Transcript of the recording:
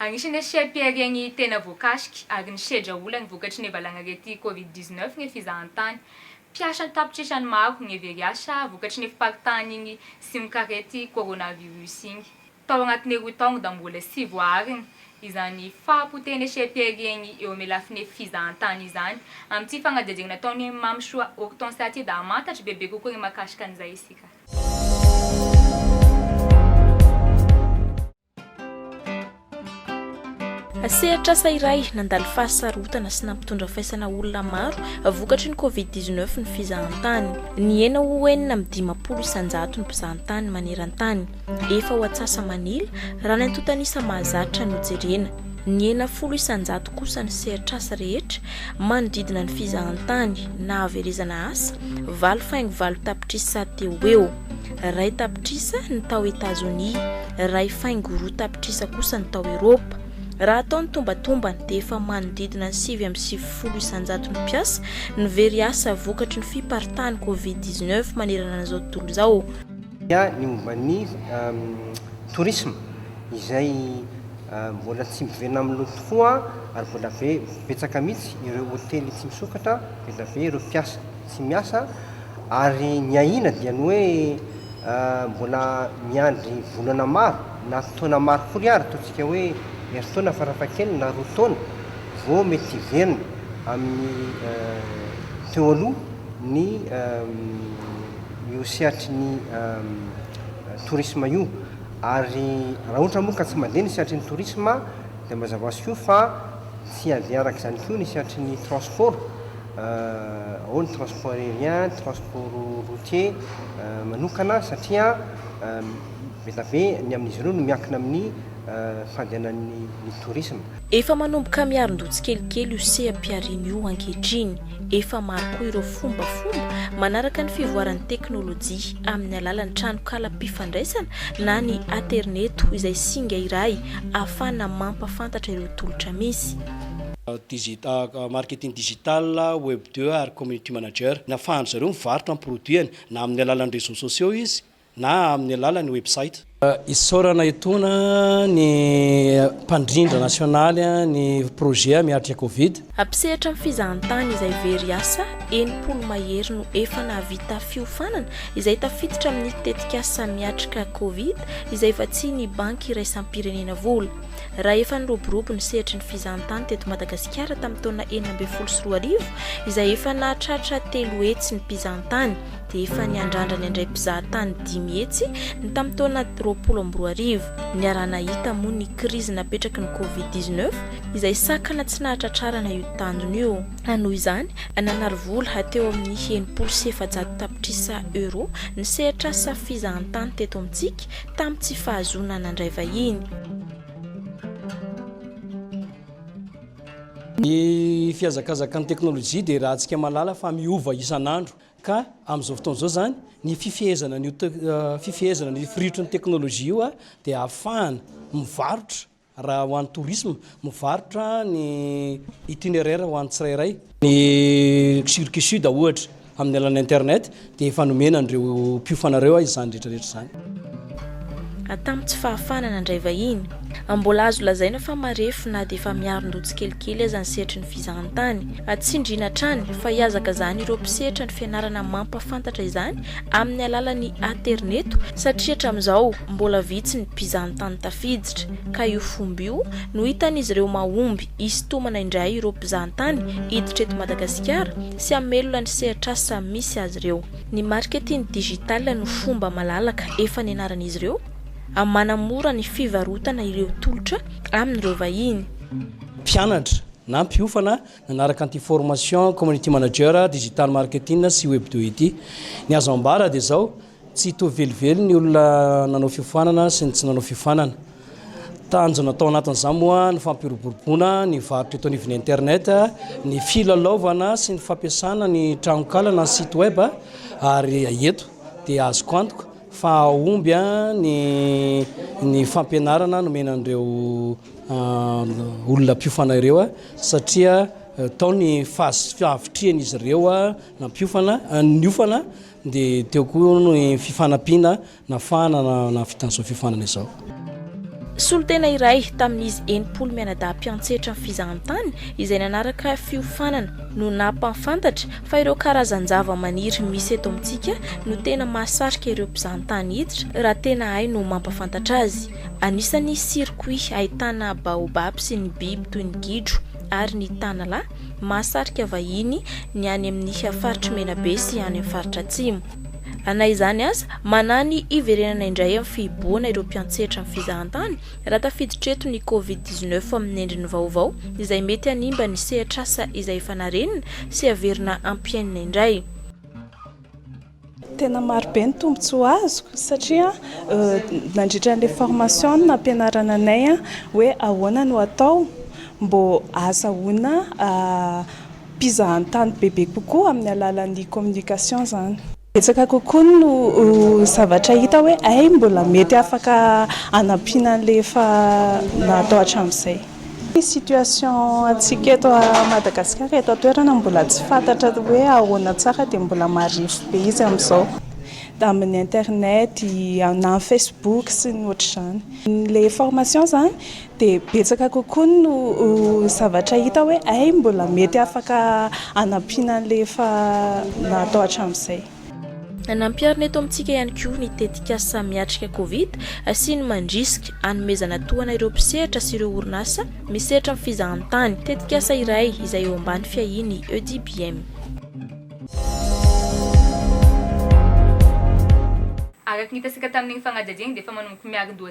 Agnisan'ny asia-piharian' ny tena voakasiky ary nisedra olany vokatry ny valanaretin' Covid dix-neuf ny fizahan-tany. Mpiasa an-tapitrisany ny maro ny very asa vokatry ny fiparitahan' iny simokariety coronavirus iny tao anatin' ny roa taonda mbola tsy voaarina izany fahapotehan' ny asia-piharian' ny eo amin' ny lafin' ny fizahan-tany izany. Amin' ity fanadihadiana nataon' i Mamysoa Hortense Atida hahamantatra bebe kokoa ny mahakasika an' izay isika. Sehatr'asa iray nandalo fahasarotana sy nampitondra faisana olona maro vokatry ny Covid 19 ny fizahantany. Nihena ho enina amin'ny dimampolo isanjato ny mpizahantany maneran-tany. Efa ho atsasa-manila raha ny antontan'isa mahazatra no jerena. Nihena folo isan-jato kosa ny sehatr'asa rehetra manodidina ny fizahantany na haverezana asa, valo faingo valo tapitrisa teo ho eo. Iray tapitrisa ny tao Etazonia, iray faingo roa tapitrisa kosa ny tao Eropa. Raha atao ny tombatombany dia efa manodidina ny sivy amby sivifolo isan-jato ny mpiasa no very asa vokatry ny fiparitahan'ny Covid dix neuf manerana an'izao tontolo izao. ny momba ny tourisme izay Mbola tsy miverina amin'ny loto fo an, ary mbola be betsaka mihitsy ireo hotely tsy misokatra, mbola be ireo mpiasa tsy miasa, ary ny ahiana dia ny hoe mbola miandry volana maro na taona maro akory ary, ataontsika hoe herintaona farafahakeliny na roa taona, vao mety hiverina amin'ny teo aloha ny io sehatry ny tourisme io. Ary raha ohatra moa ka tsy mandeha ny sehatry ny tourisme dia mba zavaho soa fa tsy handeha araka izany koa ny sehatry ny transport ao ny transport aérien, ny transport routier manokana satria be dia be ny amin'izy ireo no miankina amin'ny fandehanan'ny tourisme. Efa manomboka miarin-doha tsikelikely io seha-pihariana io ankehitriny. Efa maro koa ireo fombafomba manaraka ny fivoaran'ny teknolojia amin'ny alalan'ny tranonkalam-pifandraisana na ny aterineto izay singa iray ahafahana mampafantatra ireo tolotra misy. Marketing Digital, Web deux ary Community Manager. Ny ahafahan-dry zareo mivarotra ny produits-ny na amin'ny alalan'ny réseaux sociaux izy na amin'ny alalan'ny website. Isaorana etoana ny mpandrindra nasionaly ny projet Miatrika Covid. Hampisehatra ny fizahantany izay very asa, enimpolo mahery no efa nahavita fiofanana, izay tafiditra amin'ny tetikasa Miatrika Covid, izay vatsian'ny Banky Iraisam-pirenena vola. Raha efa niroborobo ny sehatry ny fizahantany teto Madagasikara tamin'ny taona enina ambin'ny folo sy roa arivo, izay efa nahatratra telo hetsy ny mpizahantany, dia efa niandrandran'ny handray mpizaha tany dimy hetsy ny tamin'ny taona roapolo amby roa arivo. Niaraha-nahita moa ny krizy napetraky ny Covid dix neuf, izay sakana tsy nahatratrarana io tanjona io. Ka noho izany, nanary vola hateo amin'ny enimpolo sy efajato tapitrisa euro ny sehatr'asa fizahantany teto amintsika, tamin'ny tsy fahazoana nandray vahiny. Ny fihazakazakan'ny teknolojia dia iarahantsika mahalala fa miova isan'andro. Ka amin'izao fotoana izao izany, ny fifehezana an'io te- fifehezana ny firitry ny teknolojia io dia ahafahana mivarotra raha ho an'ny tourisme, mivarotra ny itinéraire ho an'ny tsirairay. Ny Circuit Sud ohatra, amin'ny alalan'ny internet dia efa nomena an'ireo mpiofana ireo izany rehetra rehetra izany. Atamo tsy fahafahana nandray vahiny. Mbola azo lazaina fa marefo na dia efa miarin-doha tsikelikely aza ny sehatry ny fizahantany. Atsindriana hatrany fa hihazakazahana ireo mpisetra ny fianarana mampahafantatra izany amin'ny alalan'ny aterineto satria hatramin'izao mbola vitsy ny mpizahantany tafiditra ka io fomba io no hitan'izy ireo mahomby hisintomana indray ireo mpizahantany hiditra eto Madagasikara sy hamelona ny sehatr'asa misy azy ireo. Ny marketing digital no fomba malalaka efa nianaran'izy ireo amin'ny manamora ny fivarotana ireo tolotra amin'ireo vahiny. Mpianatra na mpiofana nanaraka an'ity formation Community Manager Digital Marketing sy WebDo ity. Ny azo ambara dia izao, tsy hitovy velively ny olona nanao fiofanana sy ny tsy nanao fiofanana. Tanjona tao anatin'izany moa ny fampiroboroboana ny varotra eto anivon'ny Internet, ny filalaovana sy ny fampiasana ny tranonkala na site web ary eto dia azoko antoka fa hahomby ny fampianarana nomena an'ireo olona mpiofana ireo satria tao ny fahavitrihan'izy ireo na mpiofana, niofana dia teo koa ny fifanampiana Nafahana na nahavitan'izao fiofanana izao. Solontena iray tamin'izy enimpolo mianadahy mpiantsetra ny fizahantany izay nanaraka fiofanana no nampahafantatra fa ireo karazan-javamaniry misy eto amintsika no tena mahasarika ireo mpizahantany hiditra raha tena hay no mampahafantatra azy. Anisan'ny circuit ahitana baobab sy ny biby toy ny gidro ary ny tanalahy mahasarika vahiny ny any amin'ny faritr'i Menabe sy any amin'ny faritra Atsimo. Na izany aza, manahy ny hiverenana indray amin'ny fihibohana ireo mpiantsetra ny fizahantany raha tafiditra eto ny Covid dix neuf amin'ny endriny vaovao izay mety hanimba ny sehatr'asa izay efa narenina sy haverina hampiainina indray. Tena marobe ny tombontsoa azoko satria nandritra an'ilay formation no nampianarana anay hoe ahoana no atao mbô ahazahoana mpizahantany bebe kokoa amin'ny alalan'ny communication izany. Betsaka kokoa no zavatra hita hoe hay mbola mety afaka hanampiana an'ilay efa natao hatramin'izay. Ny situation antsika eto Madagasikara eto an-toerana mbola tsy fantatra hoe ahoana tsara dia mbola marefo be izy amin'izao amin'ny internet na amin'ny facebook sy ny ohatr'izany. Ilay formation izany. dia betsaka kokoa no zavatra hita hoe hay mbola mety afaka hanampiana an'ilay efa natao hatramin'izay. Nampiharina eto amintsika ihany koa ny tetikasa Miatrika Covid sy ny Mandrisika, hanomezana tohana ireo mpisehatra sy ireo orinasa misehatra amin'ny fizahantany, tetikasa iray izay eo ambany fiahian'ny EDBM. Araka ny nitasika tamin'iny fanadihadiana iny dia efa manomboka miarin-doha